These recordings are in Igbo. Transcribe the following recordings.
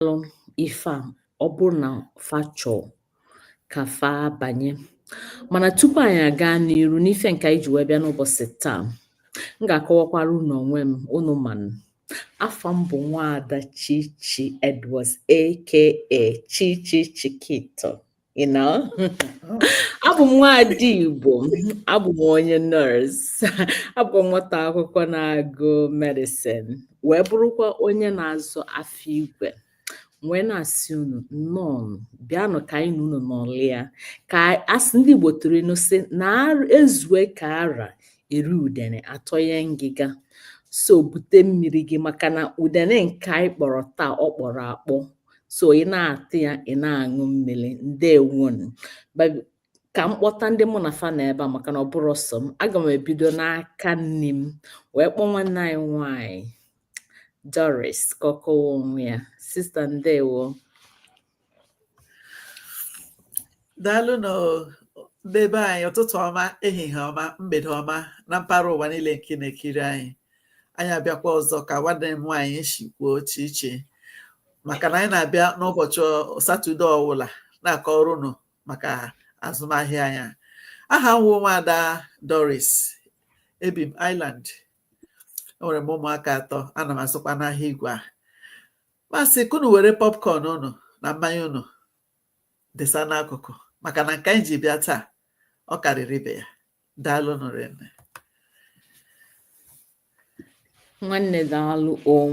na-alụ ife a ọ bụrụ na fa chọọ ka fa banye mana tupu anyị aga n'iru n'ife nke anyị ji wee bịa n'ụbọchị taa m ga-akọwakwara unu onwe m unu manụ afa m bụ nwaada Chichi Edwards aka Chichi Chikito You know, abụ m nwaada Igbo, abụ m onye nurse, abụ m nwata akwụkwọ na-agụ medicine, wee bụrụkwa onye na-azụ afịa igwe. wee na-asị unu nnọọ bịanụ ka anyị na unu nọlịa ka a sị ndị Igbo tụrụ inu sị na ezue ka a ra eri udene atọ ya ngịga so bute mmiri gị maka na udene nke anyị kpọrọ taa ọ kpọrọ akpọ so ị na-ata ya ị na-aṅụ mmiri ndewonụ ka m kpọta ndị mụ na fa nọ ebe a maka na ọ bụrọ sọ m aga m ebido n'aka nni m wee kpọọ nwanne anyị nwanyị Doris ka ọ kọwa onwe ya sista ndewo daalụnụ ndị be anyị ụtụtụ ọma ehihie ọma mgbede ọma na mpaghara ụwa niile nke na-ekiri anyị anyị abịakwa ọzọ ka nwanne m nwaanyị si kwuo Chichi maka na anyị na-abịa n'ụbọchị satọde ọwụla na-akọrọ unu maka azụmahịa anyị a aha m wụ nwaada Doris ebi m Ireland enwere m ụmụaka atọ ana m azụkwanụ ahịa igwe a m asị ka unu were popcorn unu na mmanya unu desa n'akụkụ maka na nke anyị ji bịa taa ọ karịrị ibe ya daalụnụ rinne nwanne daalụ oo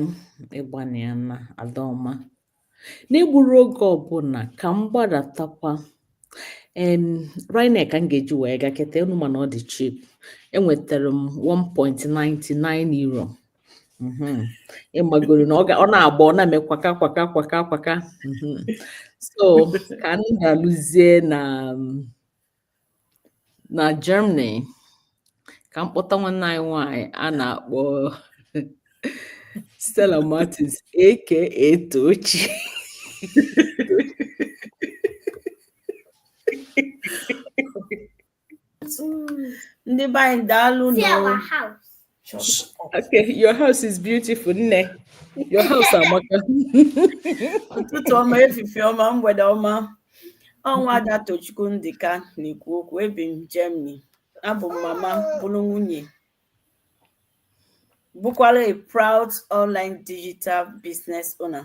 ị gbanịana adaọma n'egburo oge ọbụla ka m gbadatakwa em Ryanair ka m ga-eji wee ga keta enu mana ọ dị cheap enwetara m 1.99 euro mm-hmm. ị magoro na ọ na-agba ọ na-eme kwaka kwaka kwaka kwaka mm-hmm. so ka m daluzie na na Germany ka m kpọta nwanne anyị nwanyị a na-akpọ Stella Martins aka Tochi ndị be anyị daalụ See na our house. Okay, your house is beautiful, nne. Your house amaka. ụtụtụ ọma efifie ọma mgbede ọma ọ nwaada Tochukwu Ndịka na-ekwu okwu ebi m Germany abụ m mama bụrụ nwunye bụkwara a proud online digital business owner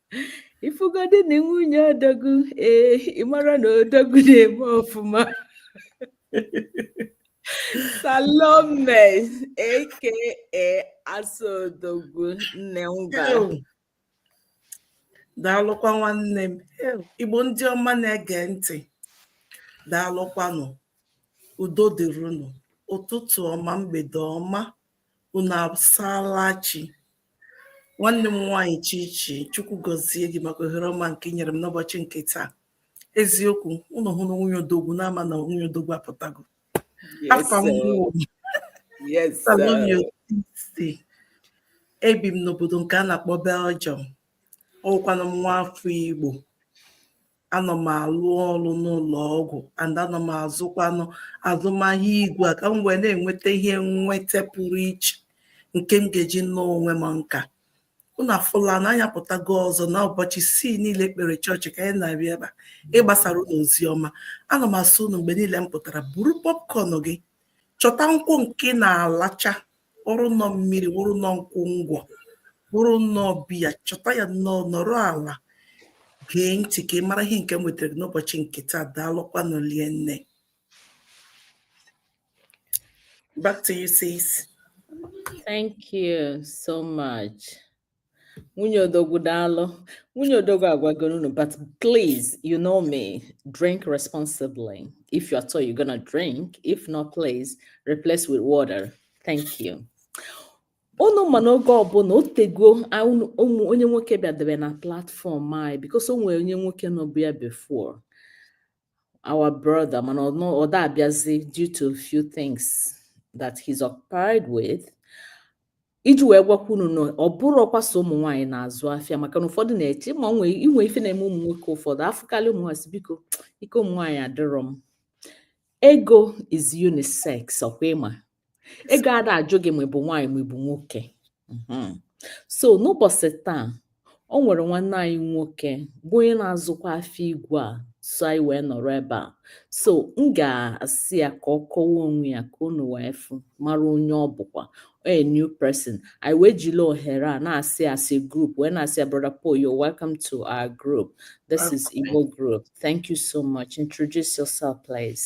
ifugodi na nwunye odogwu ee ị mara na odogwu na-eme ọfụma salome aka asa odogwu nne ngwa daalụkwa nwanne m igbo ndị ọma na-ege ntị daalụkwanụ udo dịrịnụ ụtụtụ ọma mgbede ọma unu asaala chi nwanne m nwaanyị Chichi Chukwu gọzie gị maka ohere ọma nke i nyere m n'ụbọchị nke taa eziokwu unu hụrụ nwunye odogwu na-ama na nwunye odogwu apụtago afa m Salome ebi m n'obodo nke a na-akpọ Belgium awụkwanụ m nwa afọ Igbo anọ m alụ ọrụ n'ụlọ ọgwụ and anọ m azụkwanụ azụmahịa igwe a ka m wee na-enweta ihe nweta pụrụ iche nke m ga-eji nọọ onwe m nka ụnụ afụla na anyị apụtago ọzọ na ụbọchị isii niile kpere chọọchị ka anyị na-abịa ebe a ịgbasara ụnụ ozi ọma ana m asụ ụnụ mgbe niile m pụtara buru popcorn gị chọta nkwụ nke na-alacha ọ wụrụ na ọ mmiri ọ wụrụ na ọ nkwụ ngwọ ọ wụrụ na ọ biya chọta ya nnọọ nọrọ ala gee ntị ka ị mara ihe nke m wetara gị n'ụbọchị nke taa daalụkwanụ lie nne back to you sis Thank you so much. nwunye odogwu daalụ nwunye odogwu agwagoro unu but please you know me drink responsibly if at all you're gonna drink if not please replace with water thank you unu ma n'oge ọbụla o tego ụmụ onye nwoke bịadebe na platform anyị because o nwere onye nwoke nọbụ ya before our brother mana ọ da abịazi due to a few things that he's occupied with iji wee gwakwa unu na ọ bụrọkwa sọ ụmụ nwaanyị na-azụ afịa maka na ụfọdụ na-eche ma nwe inwe ife na-eme ụmụ nwoke ụfọdụ afụkarị ụmụ nwaanyị sị biko ike ụmụ nwaanyị adịrọ m ego is unisex ọkwa ị ma ego ada ajụ gị ma ị bụ nwaanyị ma ị bụ nwoke mhm. so n'ụbọchị taa o nwere nwanne anyị nwoke bụ onye na-azụkwa afịa igwe a so anyị wee nọrọ ebe a so m ga-asị ya ka ọ kọwa onwe ya ka unu wee fụ mara onye ọ bụkwa a new person anyị wee jiri ohere a na-asị asị group wee na-asị ya brother Paul you're welcome to our group this is Igbo group thank you so much introduce yourself please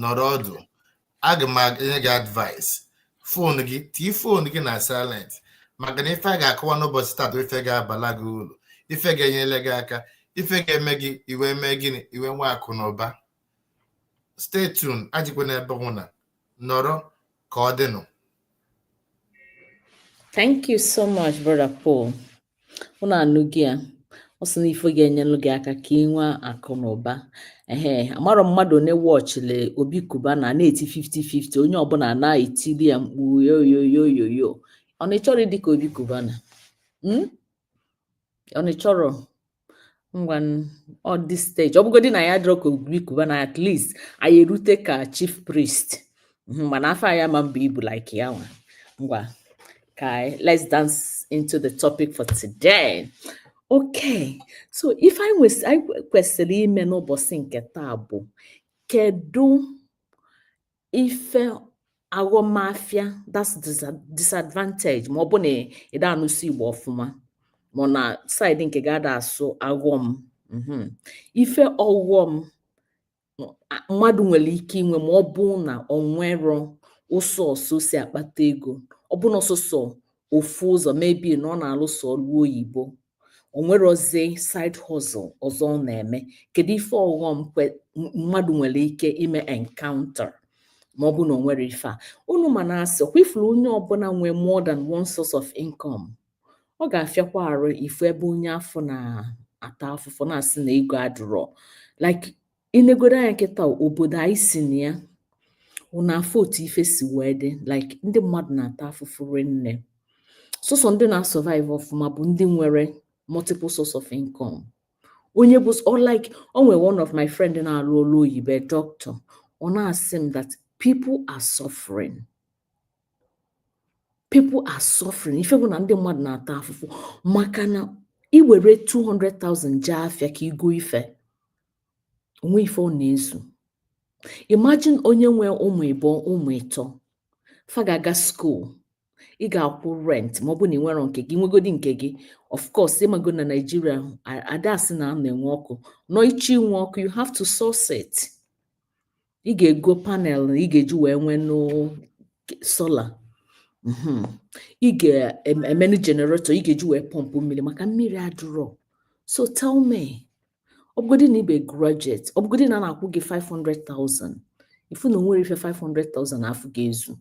nọrọ ọdụ aga m enye gị advice phone gị tii phone gị na silent maka na ife a ga-akọwa n'ụbọchị tata ife ga-abala gị uru ife ga-enyere gị aka ife ga-eme gị i wee mee gịnị i wee nwee akụ na ụba stay tuned ejekwana ebe ọbụla nọrọ ka ọ dịnụ thank you so much brother Paul unu anụgo ya ọ sị na ife ga-enyelụ gị aka ka ị nwee akụ na ụba ehe amarọ m mmadụ one wọchịlị Obi Cubana na-eti 50-50 onye ọbụna na-etili ya mkpu yoyoyoyoyo ọ na ịchọrọ dị ka Obi Cubana hmm? ọ na ịchọrọ ngwa at this stage ọ bụgodị na anyị adịrọ ka Obi Cubana at least anyị erute ka chief priest mhm, mana afọ anyị ama ebu ibu like ya nwa ngwa ka let's dance into the topic for today okay so ife anyị kwesịrị ime n'ụbọsị nke taa bụ kedu ife aghọm afịa that's disadvantage ma ọ bụ na ị da anụsị Igbo ọfụma ma na side nke gị ada asụ aghọm mhm. ife ọghọm mmadụ nwere ike inwe ma ọ bụ na o nwerọ ụzọ ọzọ o si akpata ego ọ bụ na ọ sọsọ ofu ụzọ maybe na ọ na-alụ sọ ọlụ oyibo o nwerọzi side hustle ọzọ ọ na-eme kedu ife ọghọm mmadụ nwere ike ime encounter ma ọ bụ na o nwerọ ife a unu ma na-asị ọkwa ịfụlụ onye ọbụna nwee more than one source of income ọ ga-afịakwa arụ ịfụ ebe onye afụ na-ata afụfụ na-asị na ego adụrọ like i negodu anya kịta obodo anyị si na ya unu afụ otu ife si wee dị like ndị mmadụ na-ata afụfụ rinne sọsọ ndị na-asurvive ọfụma bụ ndị nwere multiple source of income onye bụ sọ like o nwere one of my friend na-alụ ọlụ oyibo doctor ọ na-asị m that people are suffering people are suffering ife bụ na ndị mmadụ na-ata afụfụ maka na ị were 200,000 jee afịa ka ịgo ife o nwe ife ọ na-ezu imagine onye nwe ụmụ ịbọ ụmụ ịtọ fa ga-aga school ị ga-akwụ rent ma ọ bụ na ị nwerọ nke gị i nwegodi nke gị of course ịmago na Nigeria ada asị na a na-enwe ọkụ na ị chọ inwe ọkụ you have to source it ị ga-ego panel ị ga-eji wee nweenụ solar mhm. ị ga-emenụ generator ị ga-eji wee pọmpụ mmiri maka mmiri adụrọ so tell me ọbụgodị na ị bụ graduate ọbụgodị na a na-akwụ gị 500,000 ị fụ na o nwerọ ife 500,000 afụ ga-ezu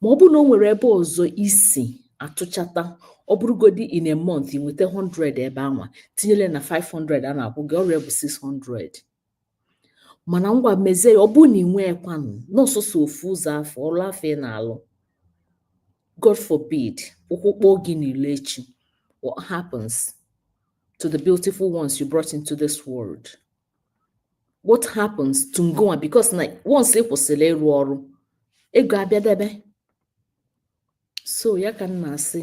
ma ọ bụ na o nwere ebe ọzọ i si atụchata ọ bụrụgodi in a month ị nweta 100 ebe anwa tinyere na 500 a na-akwụ gị ọrịa bụ 600 mana ngwa mezie ya ọ bụrụ na ị nweekwanụ nnọọ sọsọ ofu ụzọ afụ ọrụ afụ ị na-alụ god forbid ụkwụ kpọọ gị n'ile echi what happens to the beautiful ones you brought into this world what happens to ngịnwa because na once ị kwụsịrị ịrụ ọrụ ego abịadebe so ya ka m na-asị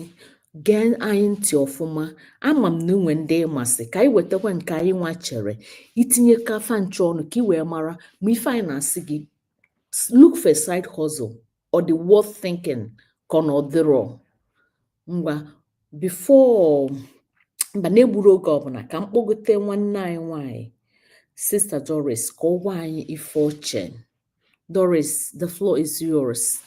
gee anyị ntị ọfụma ama m na i nwe ndị ị ma sị ka anyị wetakwa nke anyị nwa chere i tinyekọ fa ncha ọnụ ka ị wee mara ma ife anyị na-asị gị look for a side hustle ọ dị worth thinking ka ọ na ọ dịrọ ngwa before mba na-egburo oge ọbụla ka m kpọgote nwanne anyị nwanyị sista Doris ka ọ gwa anyị ife o che Doris, the floor is yours.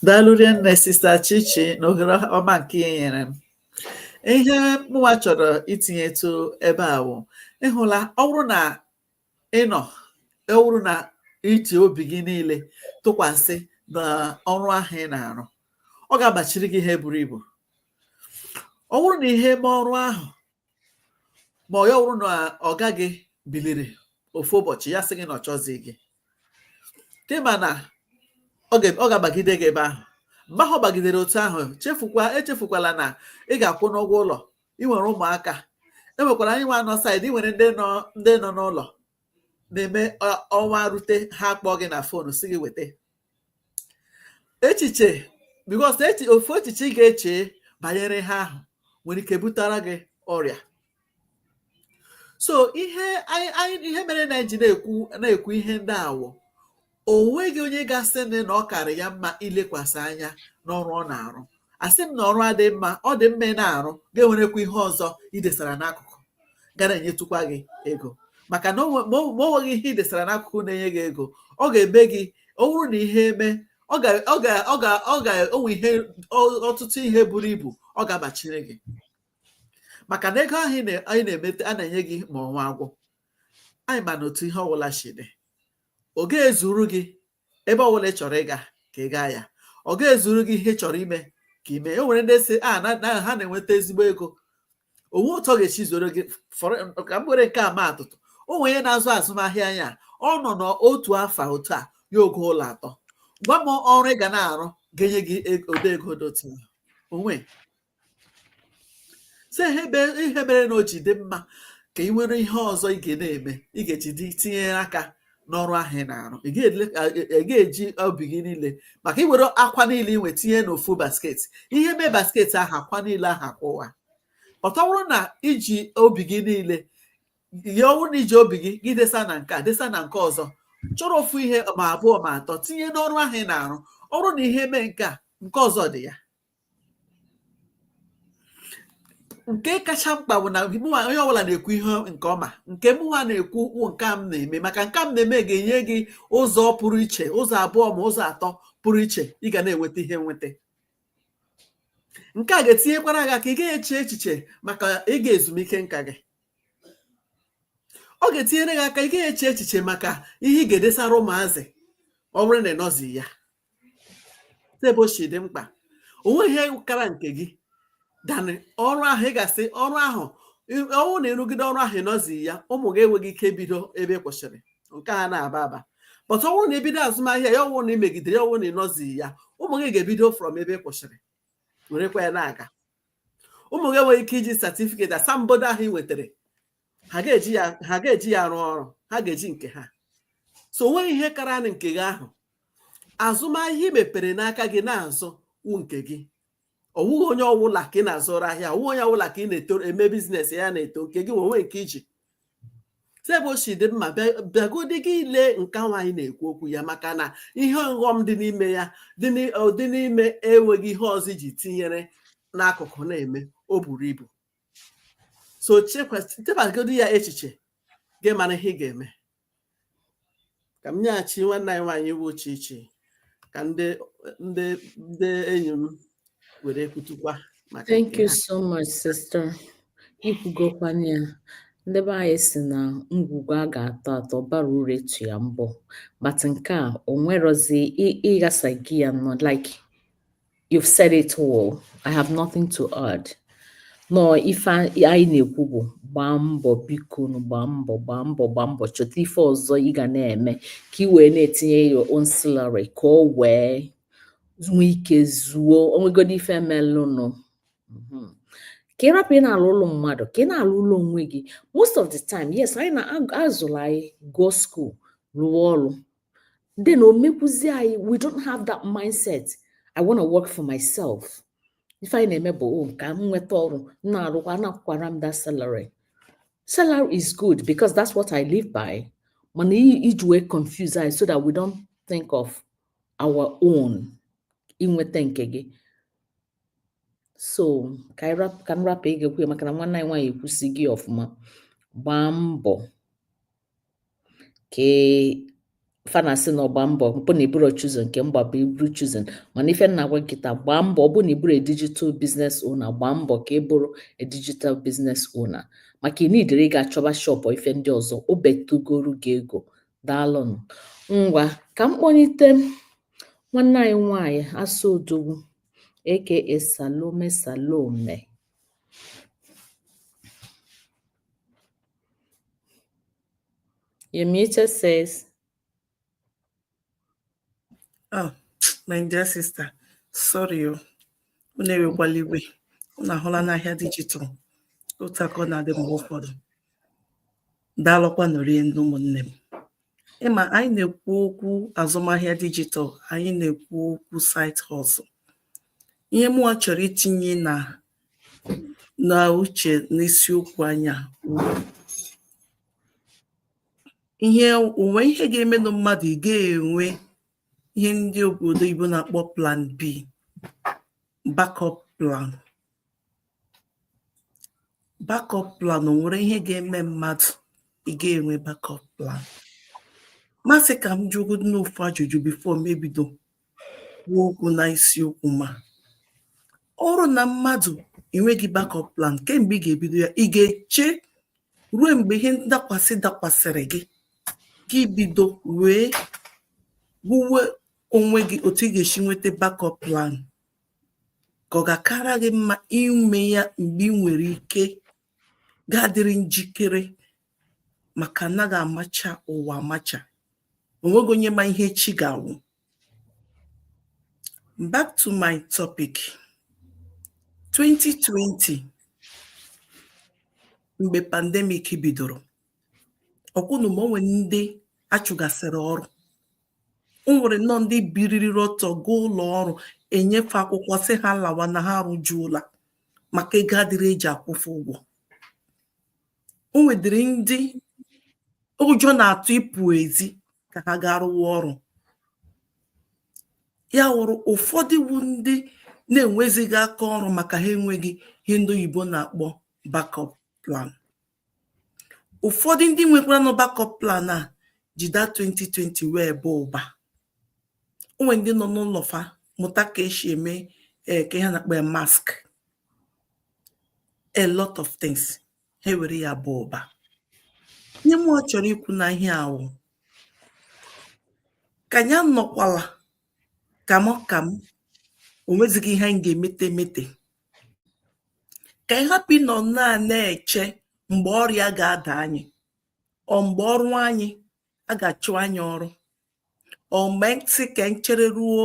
daalụ rinne sista chichi na ohere ọma nke i nyere m ihe mụwa chọrọ itinyetụ ebe a wụ ịhụla ọ bụrụ na ị nọ ọ wụrụ na i ji obi gị niile tụkwasị na ọrụ ahụ ị na-arụ ọ ga-agbachiri gị ihe buru ibu ọ bụrụ na ihe mee ọrụ ahụ ma ọ ya wụrụ na ọga gị biliri ofu ụbọchị ya sị gị na ọ chọzighị gị ị ma na ọ ga- ọ ga-agbagide gị ebe ahụ mgbe ahụ ọ gbagidere otu ahụ chefukwa echefukwala na ị ga-akwụnụ ụgwọ ụlọ ị nwere ụmụaka e nwekwara anyị nwa nọ outside ị nwere ndị nọ n'ụlọ na-eme ọnwa rute ha kpọọ gị na phone sị gị weta echiche because ofu echiche ị ga-eche banyere ihe ahụ nwere ike butere gị ọrịa so ihe ihe mere na anyị ji na-ekwu na-ekwu ihe ndị a wụ o nweghị onye ga-asịnị na ọ kara ya mma ilekwasị anya n'ọrụ ọ na-arụ asị m na ọrụ a dị mma ọ dị mma ị na-arụ ga-enwerekwa ihe ọzọ i desara n'akụkụ ga na-enyetụkwa gị ego maka na o nwe- ma o ma o nweghị ihe i desara n'akụkụ na-enye gị ego ọ ga-eme gị ọ bụrụ na ihe eme ọ ga ọ ga ọ ga ọ ga o nwe ihe ọ- ọtụtụ ihe buru ibu ọ ga-agbachiri gị maka na ego ahụ ị na- anyị na-emete a na-enye gị ma ọnwa agwụ anyị ma na otu ihe ọbụla si dị ọ ga-ezuru gị ebe ọbụla ị chọrọ ịga ka ị gaa ya ọ ga-ezuru gị ihe ị chọrọ ime ka i mee e nwere ndị sị a ah, na ha na-enweta ezigbo ego o nwe otu ọ ga-eshi zuoro gị ka m were nke a maa atụtụ o nwere onye na-azụ azụmahịa anya ọ nọ n'otu afọ otu a ya egoo ụlọ atọ gwa m ọrụ ị ga na-arụ ga-enye gị e, ụdị ego dị otu onwe so ihe mere na o ji dị mma ka ị nwere ihe ọzọ ị ga na-eme ị ga-eji dị tinyere aka n'ọrụ ahụ ị na-arụ ị ga-eji obi gị niile maka i were akwa niile i nwe tinye n'ofu basket ihe mee basket ahụ akwa niile ahụ akụwaa but ọ bụrụ na i ji obi gị niile ya ọ wụrụ na i ji obi gị gị desa na nke a desa na nke ọzọ chọrọ ofu ihe ma abụọ ma atọ tinye n'ọrụ ahụ ị na-arụ ọ wụrụ na ihe mee nke a nke ọzọ dị ya nke kacha mkpa bụ na onye ọbụla na-ekwu ihe nke ọ ma nke mụnwa na-ekwu wụ nke m na-eme maka nke a m na-eme ga-enye gị ụzọ pụrụ iche ụzọ abụọ ma ụzọ atọ pụrụ iche ị ga na-enweta ihe nweta nke a ga-etinyekwara gị aka ị gaghị eche echiche maka ịga ezumike nka gị ọ ga-etinyere gị aka ị gaghị eche echiche maka ihe ị ga-edesara ụmụazị ọ bụrụ na ị nọzi ya ebe o si dị mkpa o nweghị ihe kara nke gị than ọrụ ahụ ị ga-asị ọrụ ahụ ị- ọ wụrụ na ị rụgide ọrụ ahụ ị nọzi ya ụmụ gị enweghị ike bido ebe ị kwụsịrị nke a na-aba aba but ọ wụrụ na i bido azụmahịa ya ọ wụrụ na i megidere ya ọ wụrụ na ị nọzi ya ụmụ gị ga-ebido from ebe ị kwụsịrị werekwa ya na-aga ụmụ gị enweghị ike iji satifiketi asambodo ahụ ị nwetara ha ga-eji ya ha ga-eji ya rụọ ọrụ ha ga-eji nke ha so o nweghị ihe karanụ nke gị ahụ azụmahịa i mepere n'aka gị na-azụ wụ nke gị ọ wụghị onye ọwụla ka ị na-azụrụ ahịa ọ wụghị onye ọwụla ka ị na-eto eme biznes ya na-eto nke gị nwe nke i ji so ebe o si dị mma bịa- bịagodi gị ile nke nwaanyị na-ekwu okwu ya maka na ihe ọghọm dị n'ime ya dị n'i- ọ dị n'ime enweghị ihe ọzọ i ji tinyere n'akụkụ na-eme o buru ibu so chebagodi ya echiche gị mara ihe ị ga-eme ka m nyeghachi nwanne anyị nwaanyị wụ Chichi ka ndị ndị ndị enyi m were kwutukwa maka nke ha. Thank you so much, sister. I kwugokwanụ ya. Ndị be anyị sị na ngwugwu a ga-atọ atọ abarọ uru ịtụ ya mbọ. But nke a o nwerozi ị- ị ghasago ya nnọọ like you've said it all i have nothing to add nnọọ ife anyị na-ekwu bụ gbaa mbọ bikonu gbaa mbọ gbaa mbọ gbaa mbọ chọta ife ọzọ ị ga na-eme ka ị wee na-etinye your own salary ka o wee nwee ike zuo o nwegodi ife melụnụ mhm. ka ị rapụ ị na-alụ ọlụ mmadụ ka ị na-alụ ọlụ onwe gị most of the time yes anyị na-azụlụ anyị go school lụọ ọlụ then o mekwuzie anyị we don't have that mindset i want to work for myself ife anyị na-eme bụ oh, ka m nweta ọrụ na-arụkwa a na-akwara m that salary salary is good because that's what i live by mana e ji wee confuse anyị so that we don't think of our own inweta nke gị so ka m rapụ ị ga-ekwu ya maka na nwanne anyị nwaanyị ekwusigo ya ọfụma gbaa mbọ ka fa na-asị na ọ gbaa mbọ ọ bụ na ị bụrọ chosen ka ị gbaa mbọ ị bụrụ chosen mana ife m na-agwa gị taa gbaa mbọ ọ bụrụ na ị bụrọ a digital business owner gbaa mbọ ka ị bụrụ a digital business owner maka ị needirọ ịga achọba shop ife ndị ọzọ o betugoro gị ego daalụnụ ngwa ka m kpọlite nwanne anyị nwanyị asa odogwu aka salome salome You're muted, sis. Oh, my dear sister, sorry. Oh. Unu ewekwala iwe. Unu ahụla na ahịa dijital, otu a ka ọ na-adị mgbe ụfọdụ. Daalụkwanụ rinne ụmụnne m. ịma anyị na-ekwu okwu azụmahịa dijital anyị na-ekwu okwu side hustle ihe mụwa chọrọ itinye na na uche n'isiokwu anyị a wụ ihe o nwe ihe ga-emenụ mmadụ ị ga-enwe ihe ndị obodo oyibo na-akpọ plan B backup plan backup plan o nwere ihe ga-eme mmadụ ị ga-enwe backup plan ma sị ka m jụgodu unu ofu ajụjụ before m ebido kwuo okwu na isiokwu m a ọ wụrụ na mmadụ enweghị backup plan kee mgbe ị ga-ebido ya ị ga-eche ruo mgbe ihe ndakwasị dakwasịrị gị gị ebido wee wuwe onwe gị otu ị ga-esi nweta backup plan ka ọ ga-akara gị mma ime ya mgbe ị nwere ike ga-adịrị njikere maka anaghị amacha ụwa amacha o nweghị onye ma ihe echi ga-awụ back to my topic 2020 mgbe pandemic bidoro ọkwa unu ma o nwere ndị a chụgasịrị ọrụ o nwere nnọọ ndị biriri ọtọ gaa ụlọ ọrụ e nye fa akwụkwọ sị ha lawa na ha arụjuola maka ego adịghị e ji akwụ fa ụgwọ o nwedịrị ndị ụjọ na-atụ ịpụ ezi ka ha gaa rụwa ọrụ ya wụrụ ụfọdụ ịwụ ndị na-enwezighị aka ọrụ maka ha enweghị ihe ndị oyibo na-akpọ backup plan Ụfọdụ ndị nwekwaranụ backup plan a ji that 2020 wee baa ụba. O nwere ndị nọ n'ụlọ fa mụta ka e si eme ee ka ihe a na-akpọ ya mask a lot of things ha were ya baa ụba. Ihe mụ chọrọ ikwu na ihe a wụ ka anyị anọkwala ka m ka m o nwezighị ihe anyị ga-emete emete. ka anyị hapụ ịnọ na na-eche mgbe ọrịa ga-ada anyị ọ mgbe ọrụ anyị a ga-achụ anyị ọrụ ọ mgbe m sị ka m chere ruo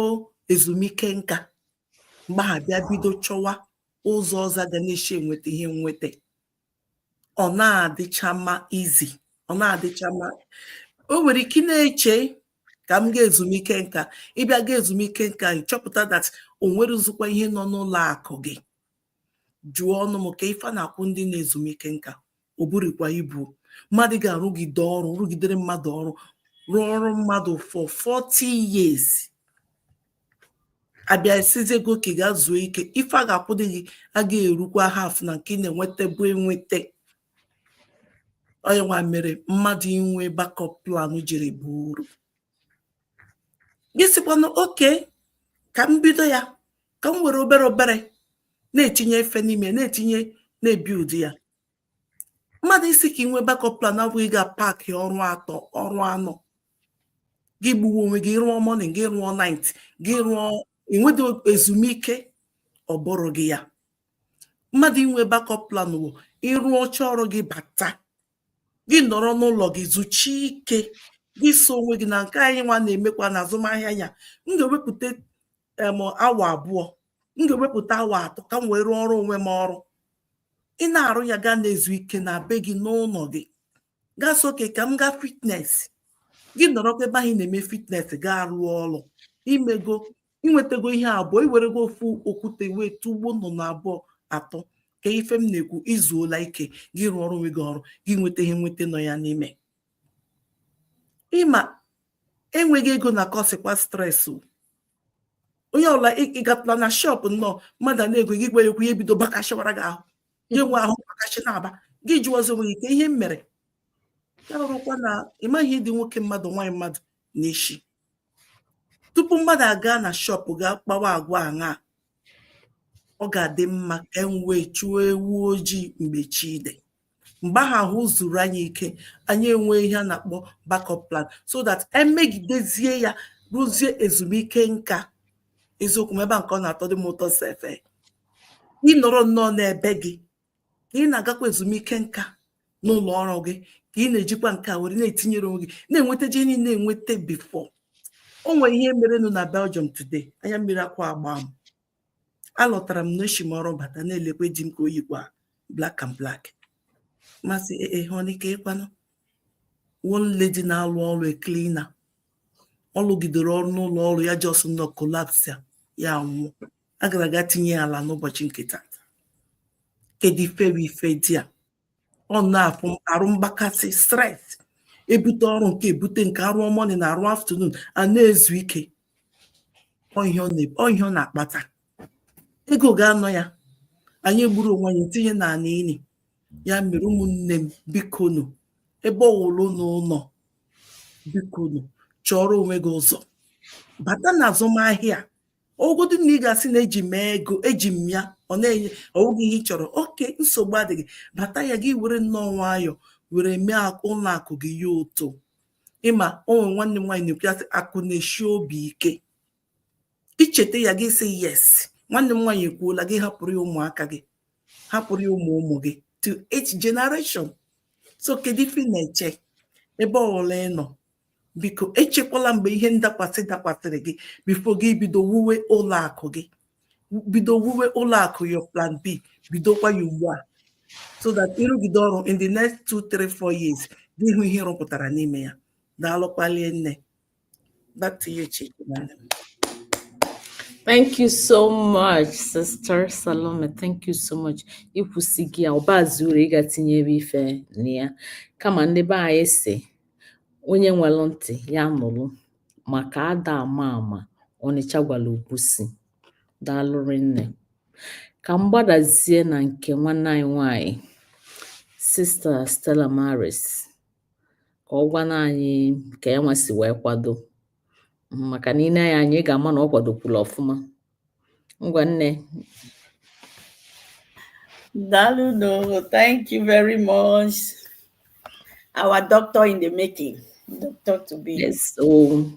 ezumike nka mgbe ahụ bịa bido chọwa ụzọ ọzọ ga na-esi enweta ihe nweta ọ na-adịcha mma izi ọ na-adịcha mma o nwere ike ị na-eche ka m gaa ezumike nka ị bịa gaa ezumike nka ị chọpụta that o nwerọzịkwa ihe nọ n'ụlọ akụ gị jụọnụ m ka ife a na-akwụ ndị n'ezumike nka o burikwa ibu mmadụ ga-arụgide ọrụ rụgidere mmadụ ọrụ rụọ ọrụ mmadụ for 40 years a bịa asịzie gị okay gaa zuo ike ife a ga-akwụdị gị a ga-erukwa half na nke ị na-enwetabu enweta ọ nya nwa mere mmadụ inwe backup plan jiri baa uru gị sịkwanụ okay ka m bido ya ka m were obere obere na-etinye effort n'ime na-etinye na-ebuild ya mmadụ ịsị ka i nwee backup plan abụghị gaa pack ọrụ atọ ọrụ anọ gị gbuwe onwe gị rụọ morning gị rụọ night gị rụọ enweghị ezumike ọ bụrụghị ya mmadụ inwe backup plan wụ ị rụchaa ọrụ gị bata gị nọrọ n'ụlọ gị zuchaa ike gị so onwe gị na nke anyị nwa na-emekwa na azụmahịa ya m ga-ewepụta em awa abụọ m ga-ewepụta awa atọ ka m wee rụọ ọrụ onwe m ọrụ ị na-arụ ya gaa na-ezu ike na be gị n'ụlọ gị gị asị okay ka m gaa fitness gị nọrọkwa ebe ahụ na-eme fitness gị arụọ ọrụ i mego i nwetago ihe abụọ i werego ofu okwute wee tụgbuo nnụnụ abụọ atọ ka ife m na-ekwu i zuola ike gị rụọ ọrụ onwe gị ọrụ gị nweta ihe nweta nọ ya n'ime ị ma enweghị ego na-acausekwa stress onye ọbụla ị gatụla na shop nnọọ mmadụ na-ego gị gwa ya okwu ya ebido bakashịwara gị ahụ gị nwe ahụ bakashị na-aba gị ajụwazie onwe gị ke ihe m mere ya bụrụkwa na ị maghị ihe dị nwoke mmadụ nwaanyị mmadụ n'isi tupu mmadụ aga na shop gaa kpawa agwa aṅa ọ ga-adị mma ka e wee chụọ ewu ojii mgbe chi dị mgbe ahụ ahụ zuru anyị ike anyị enwee ihe a na-akpọ backup plan so that emegidezie ya ruzie ezumike nka eziokwu m ebe a nke ọ na-atọdị m ụtọ sef ịnọrọ nnọọ n'ebe gị ka ị na-agakwa ezumike nka n'ụlọ ọrụ gị ka ị na-ejikwa nke a were na-etinyere onwe gị na-enweta je niile na-enweta before o nwere ihe merenụ na Belgium today anya mmiri akwa agba m alọtara m n'eshi m ọrụ bata na-elekwe di m ka o yikwa black and black m asị ee eh, eh, honey kee kwanụ one lady na-arụ ọrụ a cleaner ọ rụgidere ọrụ n'ụlọ ọrụ ya just nọ collapse ya nwụọ a gara aga tinye ya ala n'ụbọchị nke taata kedu ifere ife dị a ọ na-afụ arụ mgbakasị stress ebute ọrụ nke ebute nke arụ morning na arụ afternoon a na-ezu ike ọ ihe ọ na-akpata ego ga-anọ ya anyị egburu onwe anyị tinye na ana ini ya mere ụmụnne m bikonụ ebe ọwụla unu nọ bikonụ chọọrọ onwe gị ụzọ bata na azụmahịa ogodu na ị ga-asị na eji m ego eji m ya na ọ wụghị ihe ị chọrọ oke nsogbu adịghị bata ya gị were nnọọ nwayọọ were mee ụlọ akụ gị ya eto ị ma o nwe nwanne m nwaanyị na-ekwu sị akụ na-eshi obi ike i cheta ya gị sị yes nwanne m nwaanyị ekwuola gị hapụrụ ya ụmụaka gị hapụrụ ya ụmụ ụmụ gị to each generation so kedu ife ị na-eche ebe ọwụla ị nọ biko echekwala mgbe ihe ndakwasị dakwasịrị gị before gị bido wuwe ụlọ akụ gị bido wuwe ụlọ akụ your plan B bidokwa ya ugbu a so that ị rụgide ọrụ in the next two three four years gị hụ ihe ị rụpụtara n'ime ya daalụkwa rinne back to you Chike Thank you so much, Sister Salome. Thank you so much. I kwusịgo ya ọ bazi uru ịga tinyere ife na ya kama ndị be anyị si onye nwere ntị ya nụrụ maka ada ama ama Ọnịcha gwara Obosi daalụ rinne ka m gbadazie na nke nwanne anyị nwanyị Sister Stella Maris ka ọ gwana anyị ka ya nwa si wee kwado maka na ine anya anyị ga-ama na ọ kwadokwuru ọfụma ngwa nne Daalụnụ, thank you very much. Our doctor in the making, doctor to be. Yes, so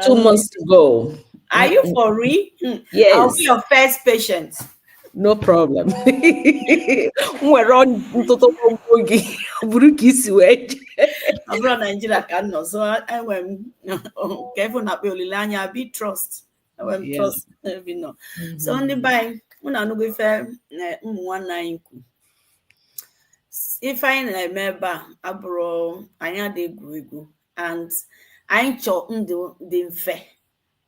two months to go. Are you for real? Hmm. Yes. I'll be your first patient. No problem. M were ntụtụ gbagbuo gị bụrụ ka i si wee jee. Ọ bụrụ Naijiria ka m nọ, so enwere m ka ife a na-akpọ olileanya abi trust. enwere m Yes. trust n'obi nọ so ndị be anyị unu anụgo ife eh, ụmụ nwanne anyị kwu ife anyị na-eme ebe a abụrọ anyị adị egwuregwu and anyị chọọ ndụ dị mfe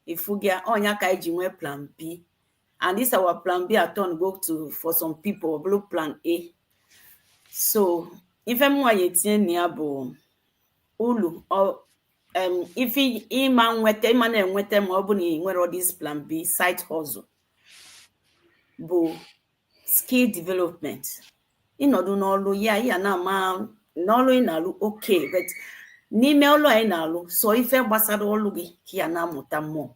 ị fụgo ya ọ nya ka anyị ji nwee plan b and this our plan b aturngo to for some people ọ bụlụ plan a so ife mụwa ya etinye na ya bụ ulu ọ- ife ị ma nweta ị ma na-enweta ma ọ bụ na ị nwere this plan b side hustle bụ skill development ị nọdụ n'ọlụ ya ị ya na-ama n'ọlụ ị na-alụ okay but n'ime ọlụ anyị na-alụ sọ ife gbasara ọlụ gị ka ị ya na-amụta ma ọ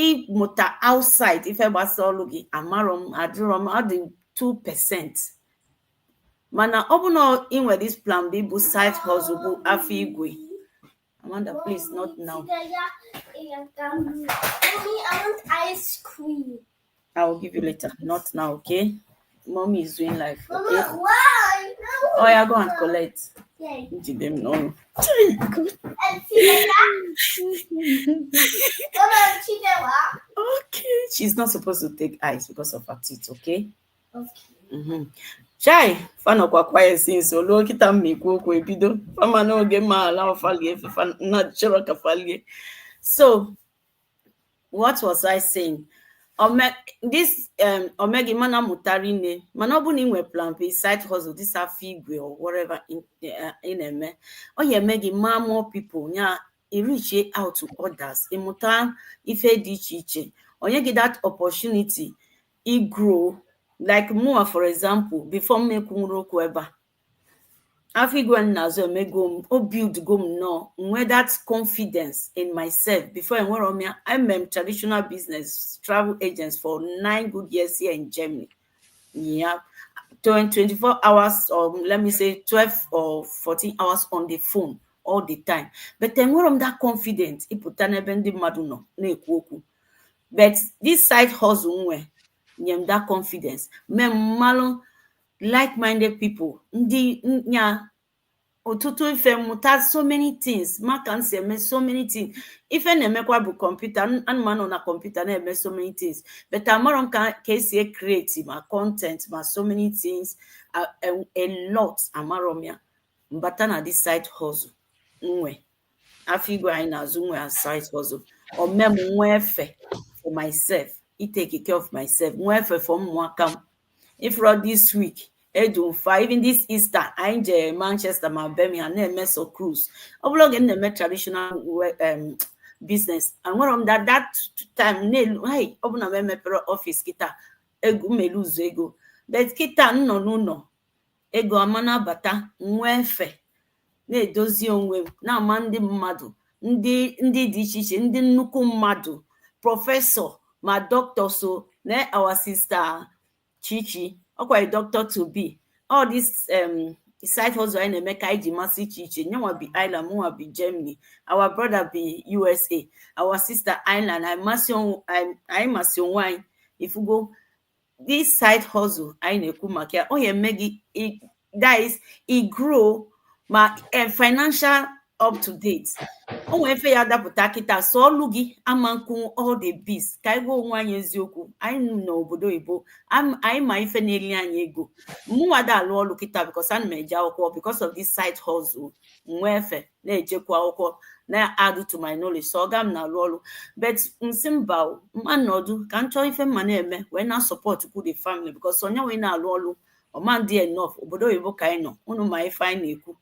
ịmụta outside ife gbasara ọlụ gị amarọ m adịrọ m ọ dị 2 percent mana ọ bụ na ị nwere this plan b bụ side hustle bụ afọ igwe Amanda please not now ice cream I will give you later not now okay mommy is doing live okay oya go and collect jide m n'ọnụ okay she's not supposed to take ice because of her teeth okay mhm. chai fa nọkwa quiet since o luo kịta m ma ikwu okwu e bido fa ma n'oge ma ala fa lie ife a na-achọrọ ka fa lie so what was i saying this um, o me gị mana mụtara ine mana ọ bụ na ị nwere plan b side hustle this afọ igwe or whatever ị uh, na-eme ọ ya eme gị ma more people ya ireachie out to others ị mụta ife dị iche iche o nye gị that opportunity ị grow like mụwa for example before m ekwunwerọ okwu ebe a afọ igwe m na-azụ emego m o buildgo m nnọọ nwee that confidence in myself before enwerọ m ya eme m traditional business travel agents for nine good years here in Germany yeah 24 hours or um, let me say 12 or 14 hours on the phone all the time but enwerọ m that confidence ịpụta n'ebe ndị mmadụ nọ na-ekwu okwu but this side hustle nwe nye m that confidence mee m malụ like-minded people ndị nya ọtụtụ ife mụta so many things ma ka m si eme so many things ife na-emekwa bụ computer ana m anọ na computer na-eme so many things but amarọ m ka ka e si e create ma content ma so many things a, a, a lot amarọ m ya m bata na this side hustle nwe afịa igwe anyị na-azụ nwe as side hustle o me m nwee efe for myself ị take care of myself nwee efe for ụmụaka m ị fụrọ this week edu m fa even this easter anyị jere manchester ma birmingham na-eme so cruise ọ bụrụ oge m na-eme traditional we- em, business enwerọ m that that time na-elu hey, ọ bụ na m emeperọ office kịta ego m eluzuo ego but kịta m nọ n'ụlọ ego ama na-abata nwee efe na-edozi onwe m na-ama ndị mmadụ ndị ndị dị iche iche ndị nnukwu mmadụ professor ma doctor so na our sister chichi ọkwa doctor to be all this um, side hustle anyị na-eme ka anyị ji masị Chichi nyanwa bi Ireland mụnwa bi Germany our brother bi USA our sister Ireland anyị masị onwe anyị ị fụgo this side hustle anyị na-ekwu maka ya ọ ya eme gị that is ị grow ma eh, financial up to date o nwee ife ya dapụta kịta sọ ọlụ gị ama akwụ all the bills ka anyị gwa onwe anyị eziokwu anyị nọ obodo oyibo anyị ma ife na-eli anyị ego mụnwa ada alụ ọlụ kịta because ana m eje akwụkwọ because of this side hustle nwee efe na-ejekwa akwụkwọ na-add to my knowledge so aga m na-alụ ọlụ but m sị mba o, m ma nọdụ ka m chọọ ife m ma na-eme wee na-supportkwu the family because onye wee na-alụ ọlụ ọ ma adị enough obodo oyibo ka anyị nọ unu ma ife anyị na-ekwu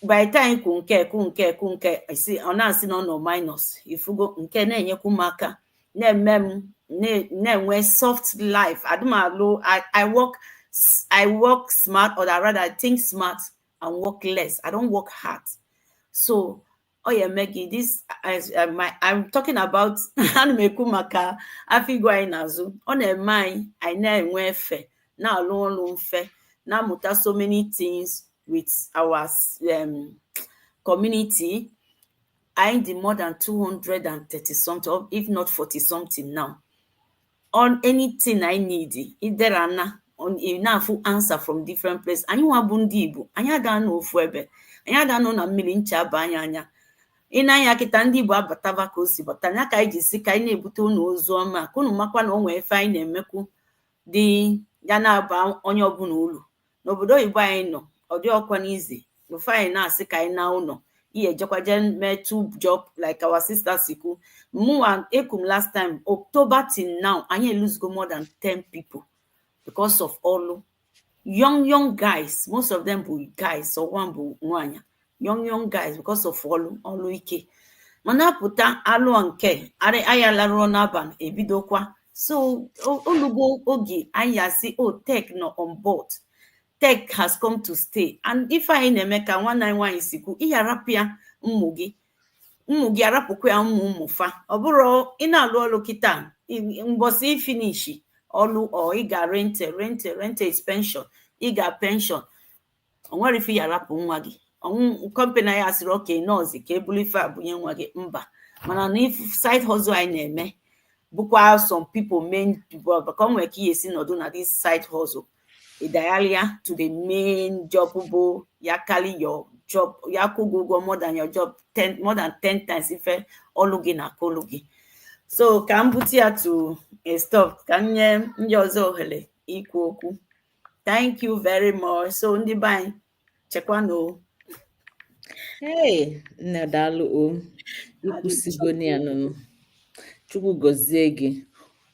by the time kwụ nke kwụ nke kwụ nke esi ọ na-asị na ọ nọ minus ị fụgo nke na-enyekwu m aka na-eme m na- na-enwe soft life adị m alụ I- I work s- I work smart or I rather I think smart and work less. I don't work hard. So ọ ya eme gị, this as uh, my I'm talking about ana m ekwu maka afịa igwe anyị na-azụ ọ na-eme anyị anyị na-enwe efe na-alụ ọlụ mfe na-amụta so many things with our um, community anyị dị more than 230 something if not 40 something now on anything ị need i dere ana ị na-afụ answer from different place anyị nwa bụ ndị Igbo anyị ada anọ ofu ebe anyị ada anọ na mmiri ncha aba anyị anya ị nee anya kịta ndị Igbo abataba ka o si bata anya ka anyị ji sị ka anyị na-ebute ụnụ ozi ọma ka ụnụ makwa na o nwee ife anyị na-emekwu dị ya na-aba onye ọbụla ulu n'obodo oyibo anyị nọ ọ dịrọkwanụ easy ife anyị na-asị ka anyị na ụnọ ihe ejekwa jee mee two job like our sister si kwu mụnwa ekwu m last time october till now anyị eluzugo more than 10 people because of ọlụ young young guys most of them bụ guys sọ one bụ nwaanyị young young guys because of ọlụ ọlụ ike mana apụta alụọ nke anyị alarụọ n'abanị ebidokwa so olugo oge anyị ya-asị oh, tech nọ on board tech has come to stay and ife anyị na-eme ka nwanne anyị nwaanyị si kwu ị ya-arapụ ya ụmụ gị ụmụ gị arapụkwa ya ụmụ ụmụ fa ọ bụrụ ị na-alụ ọlụ kịta mbọsị ị finishi ọlụ ọ ị ga rente rente rente is pension ị ga pension o nwere ife ị ya-arapụ nwa gị company ya-asịrị okay nọzị ka ebulu ife a bunye nwa gị mba mana na if side hustle anyị na-eme bụkwa some people main job because o nwere ka ị ya-esi nọdụ na this side hustle ị dagharịa to the main job bụ ya akarị your job ya akwụọ gị ụgwọ more than your job more than 10 times ife ọlụ gị na-akwụlụ gị so ka m bute ya to a stop ka m nye ndị ọzọ ohele ikwu okwu thank you very much so ndị be anyị chekwanụ o hey nne daalụ o i kwusigo ya nụnụ chukwu gọzie gị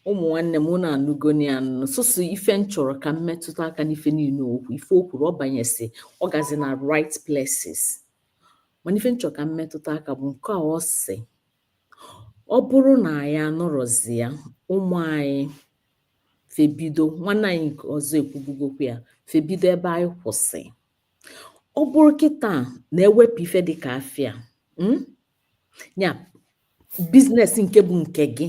ụmụ nwanne m unu anụgo ya nụnụ sọsọ ife m chọrọ ka m metụtụ aka n'ife niile o kwu ife o kwuru ọ banyesi ọ gazi na right places mana ife m chọrọ ka m metụtụ aka bụ nke a ọ sị ọ bụrụ na anyị anọrọzi ya ụmụ anyị fa ebido nwanne anyị nke ọzọ ekwubugokwu ya fa ebido ebe anyị kwụsị ọ bụrụ kịta na ewepụ ife dị ka afịa hmm? ya business nke bụ nke gị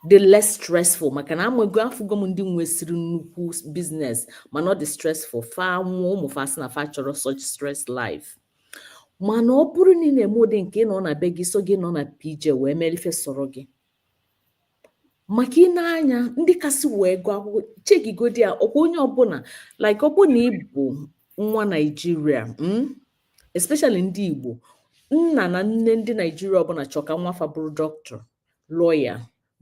dị less stressful maka na amago afụgo m ndị nwesịrị nnukwu business mana ọ dị stressful fa nwụọ ụmụ fa asị na fa achọrọ such stress life mana ọ bụrụ na ị na-eme ụdị nke ị nọ na be gị ọ sọ gị nọ na PJ wee mere ife sọrọ gị maka i nee anya ndị kasị wee gụọ akwụkwọ checkigodi ya ọkwa onye ọbụna like ọ bụrụ na ị bụ nwa naijiria hmm, especially ndị igbo nna na nne ndị naijiria ọbụna chọọ ka nwa fa bụrụ doctor lawyer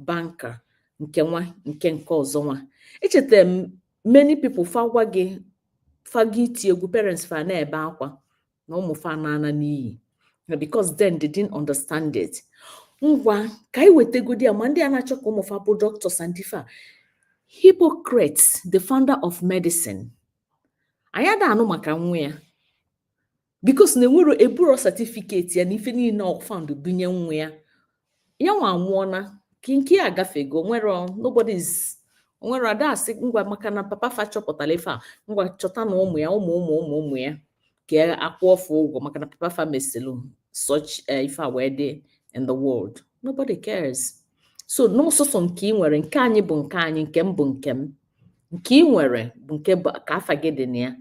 banker nke nwa nke nke ọzọ nwa echeta m many people fa gwa gị fa ga-iti egwu parents fa na-ebe akwa na ụmụ fa na-ana n'iyi because then they didn't understand it ngwa ka anyị wetegodi ya ma ndị a na-achọ ka ụmụ fa bụ doctors and ife a Hippocrates the founder of medicine anyị ada anụ maka nwa ya because na enwero eburo certificate ya na ife niile ọ found bunye nwa ya ya nwa anwụọ na ka nke ya agafego nwere nobody is nwere ada asị ngwa maka na papa fa chọpụtara ife a ngwa chọta na ụmụ ya ụmụ ụmụ ụmụ ụmụ ya ka a kwụọ fa ụgwọ maka na papa fa meselu such eh, ife a wee dị in the world nobody cares so na ọ sọsọ nke ị nwere nke anyị bụ nke anyị nke m bụ nke m nke ị nwere bụ nke ka afa gị dị na ya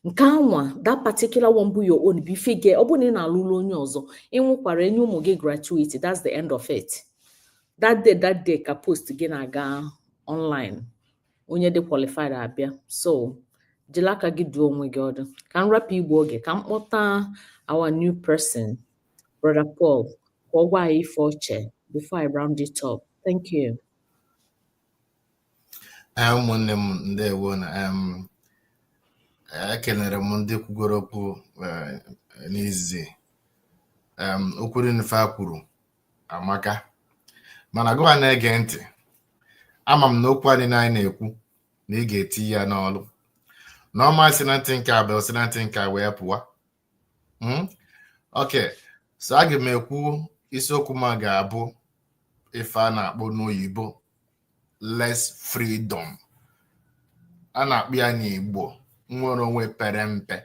nke anwa that particular one bụ your own bụ ife gị ọ bụrụ na ị na-alụrụ onye ọzọ ị nwụkwara e nye ụmụ gị gratuity that's the end of it that day that day ka post gị na-aga online onye dị qualified abịa so jiri aka gị duo onwe gị ọdụ ka m rapụ igbu oge ka m kpọta our new person brother Paul ka ọ gwa anyị ife o che before I round it up thank you ụmụnne m ndewo nụ ekelere m ndị kwugoro okwu n'izizi okwu n'ife e kwuru amaka mana gụwa na-ege ntị ama m na okwu anyị na anyị na-ekwu na ị ga-eti ya n'ọlụ na ọ ma si na ntị nke a bịa si na ntị nke a wee pụwa Hmm? ok so aga m ekwu isiokwu m ga-abụ ife a na-akpọ n'oyibo less freedom a na-akpọ ya n'igbo nnwere onwe pere mpe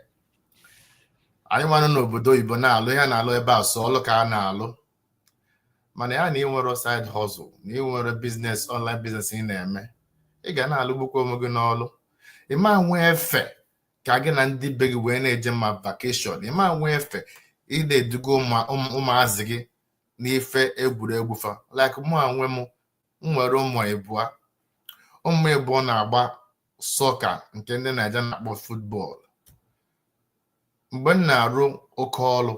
anyị nwa nọ n'obodo oyibo na-alụ ya na-alụ ebe a sọ ọlụ ka a na-alụ mana ya na ị nwere side hustle na ị nwere business online business ị na-eme ị ga na-alụgbukwa onwe gị n'ọlụ ị ma nwee efe ka gị na ndị be gị wee na-eje ma vacation ị ma nwee efe ị na-eduga ụmụazị gị n'ife egwuregwu fa like mụ onwe m nwere ụmụ ịbụọ ụmụ ịbụọ na-agba soccer nke ndị Naịjirịa na-akpọ football mgbe m na-arụ oke ọrụ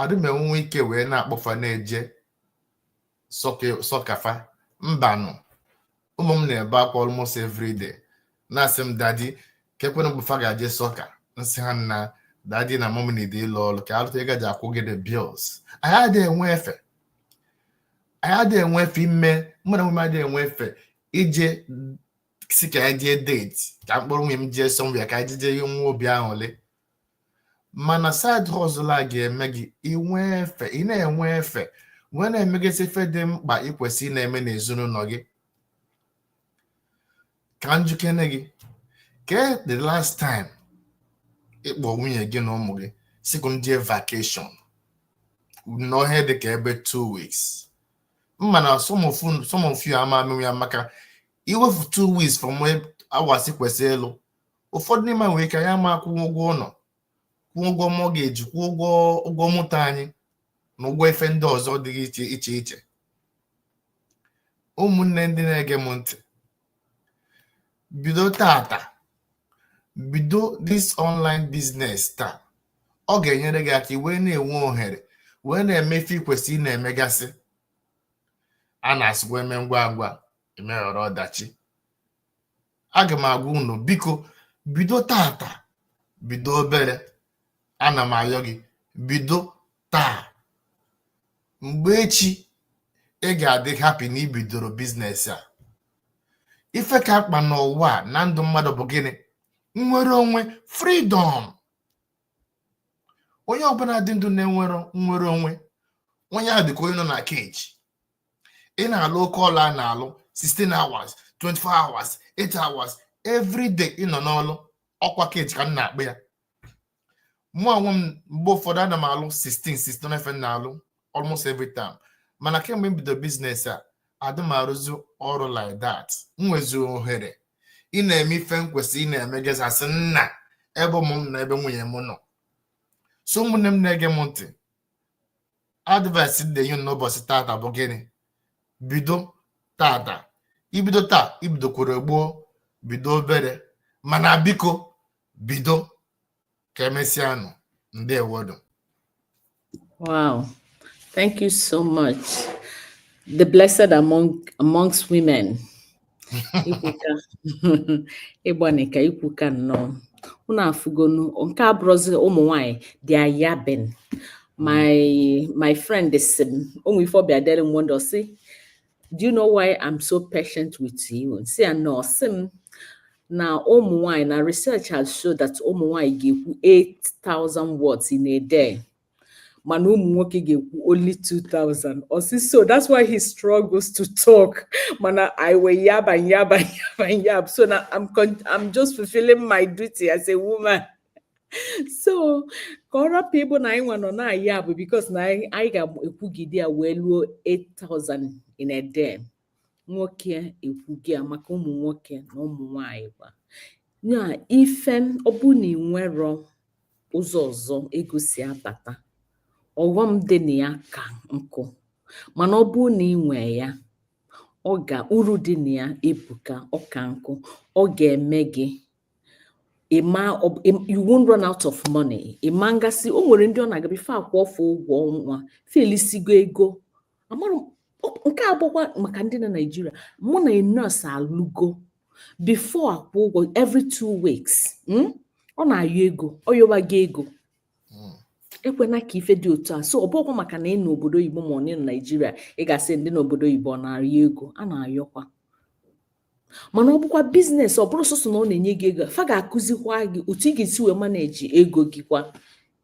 adị m enwe ike wee na-akpọ fa na-eje soc- soccer fa mbanụ ụmụ m na-ebe akwa almost every day na-asị m daddy kekwanụ mgbe fa ga-eje soccer m sị ha na daddy na mum need ịlụ ọlụ ka a lụta ego e ji akwụga the bills anyị adịghị enwe efe anyị adịghị enwe efe ime mụ na nwunye m adịghị enwe efe ije sị ka anyị jee date ka m kpọrọ nwunye m jee somewhere ka anyị jee jee nwee obi aṅụlị mana side hustle a ga-eme gị i nwee efe ị na-enwe efe wee na-emegasị ife dị mkpa i kwesị na-eme n'ezinụlọ gị ka m jụkene gị kee the last time ị kpọ nwunye gị na ụmụ gị sị ka unu jee vacation nọọ ihe dị ka ebe two weeks m ma na some of you ama emenwu ya maka i wefu two weeks from hours i kwesịrị ịlụ ụfọdụ n'ime nwere ike anyị ma kwụọ ụgwọ ụlọ kwụọ ụgwọ mortgage kwụọ ụgwọ moto anyị na ụgwọ ife ndị ọzọ dị iche iche iche ụmụnne ndị na-ege m ntị bido tata bido this online business taa ọ ga-enyere gị aka i wee na-enwe ohere wee na-eme ife i kwesị na-emegasị a na-asịkwa e mee ngwa ngwa e meghara ọdachi aga m agwa unu biko bido tata bido obere ana m ayọ gị bido taa mgbe echi ị ga-adị happy na i bidoro business a ife ka mkpa n'ụwa na ndụ mmadụ bụ gịnị nnwere onwe freedom onye ọbụla dị ndụ na-enwero nnwere onwe onye ahụ dịka onye nọ na cage ị na-alụ oke ọlụ a na-alụ 16 hours 24 hours 8 hours every day ị nọ n'ọlụ ọkwa cage ka m na-akpọ ya mụ onwe m mgbe ụfọdụ ana m alụ 16 16 ife m na-alụ almost every time mana kemgbe m bido business a adị m arụzi ọrụ like that m nwezi ohere ị na-eme ife m kwesịrị ị na-eme gezasị nna ebe ụmụ m na ebe nwunye m nọ so ụmụnne m na-ege m ntị advice m na-enye unu n'ụbọsị tata bụ gịnị bido tata i bido taa i bidokwara gboo bido obere mana biko bido ka emesịanụ ndeewonụ wow thank you so much the blessed among amongst women ị gbanịka i kwuka nnọọ unu afụgonu nke a bụrụzi ụmụ nwanyị they are yabbing my my friend sị m o nwe ife ọ bịa dere m one day sị do you know why I'm so patient with you sị ya no ọ sị m na ụmụ nwanyị na research has showed that ụmụ nwanyị ga-ekwu 8000 words in a day mana ụmụ nwoke ga-ekwu only 2000 ọ sị so that's why he struggles to talk mana I will yab and yab and yab and yab so na I'm, I'm just fulfilling my duty as a woman so ka ọ rapụ ịbụ na anyị nwa nọ na-ayab because na anyị ga-ekwugide ya wee luo 8000 in a day nwoke okwu gị amaka ụmụ nwoke na ụmụ nwanyị kwa ya ife ọ bụ na ị nwerọ ụzọ ọzọ ego si abata ọghọm dị na ya ka nku mana ọ bụrụ na ị nwee ya ọ ga uru dị na ya ebuka ọ ka nku ọ ga-eme gị ịma you won't run out of money ịma ngasị o nwere ndị ọ na-aga before akwụọ fa ụgwọ ọnwa fa elisigo ego amara nke a bụkwa maka ndị na naijiria mụ na nurse alụgo before akwụ ụgwọ every two weeks hmm? ọ na-ayọ ego ọ yọwa gị ego hmm. ekwena ka ife dị otu a so ọ bụrọkwa maka na ị nọ obodo oyibo ma ọ na naijiria ị ga-asị ndị n'obodo oyibo ọ na-ayọ ego a na-ayọkwa mana ọ bụkwa business ọ bụrọ sọsọ na ọ na-enye gị ego fa ga-akụzikwa gị otu ị ga-esi wee manage ego gị kwa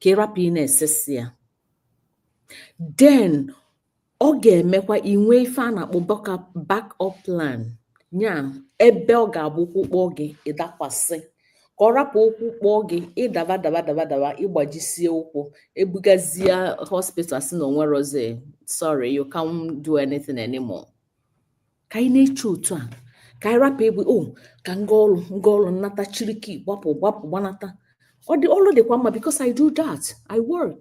ka ị rapụ ị na-esesi ya then ọ ga-emekwa inwe ife a na-akpọ back up plan nya ebe ọ ga-abụ ụkwụ kpọọ gị ịdakwasị ka ọ rapụ ụkwụ kpọọ gị ịdaba daba daba daba ịgbajisie ụkwụ ebugazie hospital sị na o nwerọzi sorry you can't do anything anymore ka ị na-eche otu a ka ị rapụ egbe o oh, ka nga ọrụ nga ọrụ nnata chiriki gbapụ gbapụ gbanata ọlụ dịkwa mma because I do that I work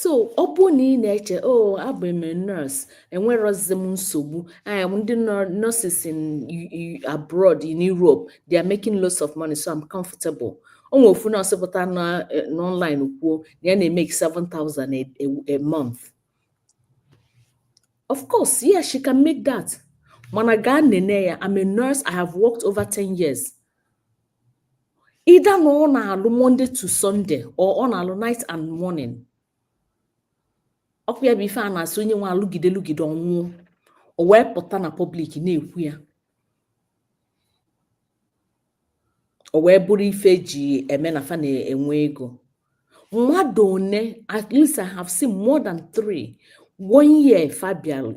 so ọ bụ na ị na-eche o oh, abụ m nurse enwerọzi m nsogbu am ndị nurses in abroad in Europe they are making lots of money so I'm comfortable o nwere ofu nurse pụta eh, n'online kwuo na ya na-emake 7000 a month of course yeah she can make that mana gaa nene ya I'm a nurse I have worked over 10 years either na ọ na-alụ Monday to Sunday or ọ na-alụ night and morning ọkwa ya bụ ife a na-asị onye nwa a lụgide lụgide ọ nwụọ o wee pụta na public na-ekwu ya o wee bụrụ ife eji eme na fa na-enwe ego mmadụ one at least I have seen more than three one year fabian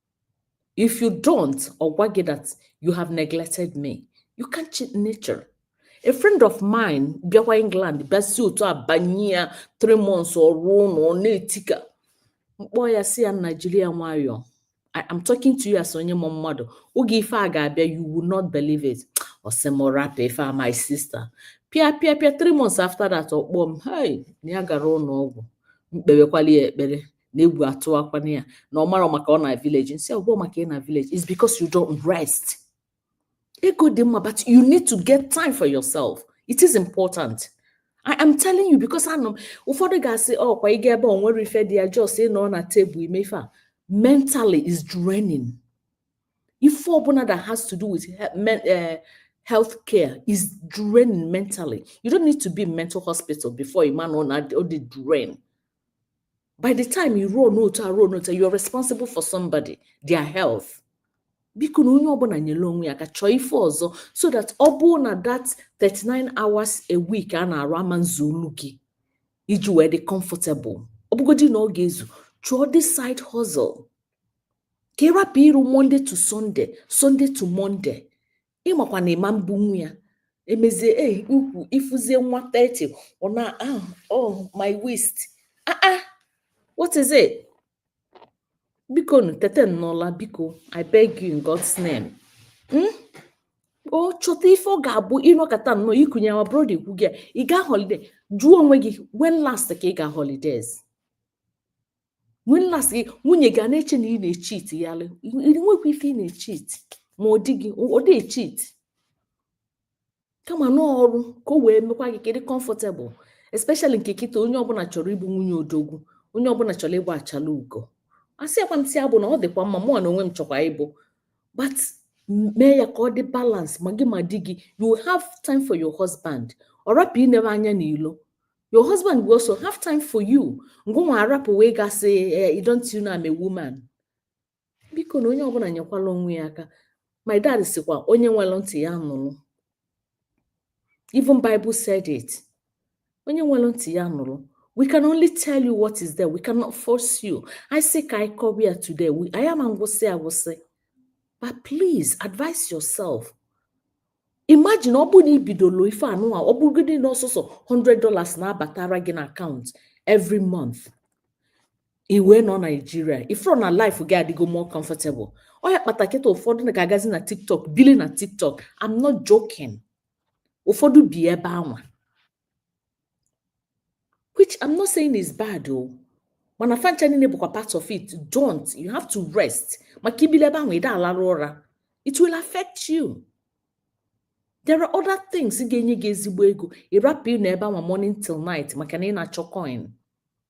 if you don't ọ gwa gị that you have neglected me you can't cheat nature a friend of mine bịakwa england bịa si otu a banye ya three months ọrụ ụnọ ọ na-etika m kpọọ ya sị ya Nigeria nwayọọ I am talking to you as onye mụ mmadụ oge ife a ga-abịa you will not believe it ọ sị m rapụ ife a my sister pịa pịa pịa three months after that ọ kpọọ m hey na ya gara ụnọ ọgwụ m kpebekwalụ ya ekpere na egwu atụwakwana ya na ọ mara maka ọ na village m sị ọ bụrọ maka ị na village is because you don't rest ego dị mma but you need to get time for yourself it is important I am telling you because I know ụfọdụ ga-asị ọkwa oh, ịga ebe o nwere ife dị ya just ịnọ na table ime ife a mentally is draining ife ọbụla that has to do with eh, health care is draining mentally you don't need to be in mental hospital before ị ma na ọ na-a drain by the time ị rụọ n'otu a rụọ n'otu a you're responsible for somebody their health biko na onye ọbụla nyere onwe ya aka chọọ ife ọzọ so that ọ bụrụ na that 39 hours a week a na-arụ ama nzulu gị iji wee dị comfortable ọ bụgodị na ọ ga-ezu chụọ dị side hustle ka ị rapụ ịrụ Monday to Sunday Sunday to Monday ị makwa na ị ma mbunwu ya emezie ei ukwu ị fụzie nwa 30 ọ na ah, oh my waist ah ah what is it bikonu tete n'ụla biko i beg you in god's name hmm? chọta ife ọ ga-abụ ị nọkata nnọọ ị kunye nwa bụrụdị ikwu gị ị gaa holiday jụọ onwe gị when last ka ị ga holidays when last gị nwunye ga na-eche na ị na-echeat ya lị nwekwa ife ị na-echeat ma ọ dị gị ọ dị echeat kama n'ọrụ ka o wee mekwa gị ka ị dị comfortable especially nke kịta onye ọbụla chọrọ ịbụ nwunye odogwu onye ọbụla chọrọ ịbụ achala ugo asịkwa m sị abụna ọ dịkwa mma mụ na onwe m chọkwa ịbụ but mee ya ka ọ dị balance ma gị ma di gị you have time for your husband ọ rapụ inebe anya n'ilo your husband will also have time for you ngụnwa arapụ wee gasị eh, don't you know I'm a woman biko na onye ọbụla nyekwala onwe ya aka my dad sịkwa onye nwere ntị ya nụrụ even bible said it onye nwere ntị ya nụrụ we can only tell you what is there we cannot force you ị sị ka ị kọrịa today i am agwụsị agwụsị but please advise yourself imagine ọ bụrụ na ị bidolo ife anụwa ọ bụrụgodị na ọ sọsọ 100 dollars na-abatara gị na account every month i wee nọ nigeria ị fụrọ na life gị adịgo more comfortable ọ ya kpata kịta ụfọdụ na ga-agazi na tiktok bili na tiktok i'm not joking ụfọdụ bi ebe anwa which i'm not saying is bad o mana fa ncha nine bụkwa part of it don't you have to rest maka i bili ebe anwa ị dị alarụ ụra it will affect you there are other things ga-enye gị ezigbo ego ị rapụ ịnọ ebe anwa morning till night maka na ị na-achọ coin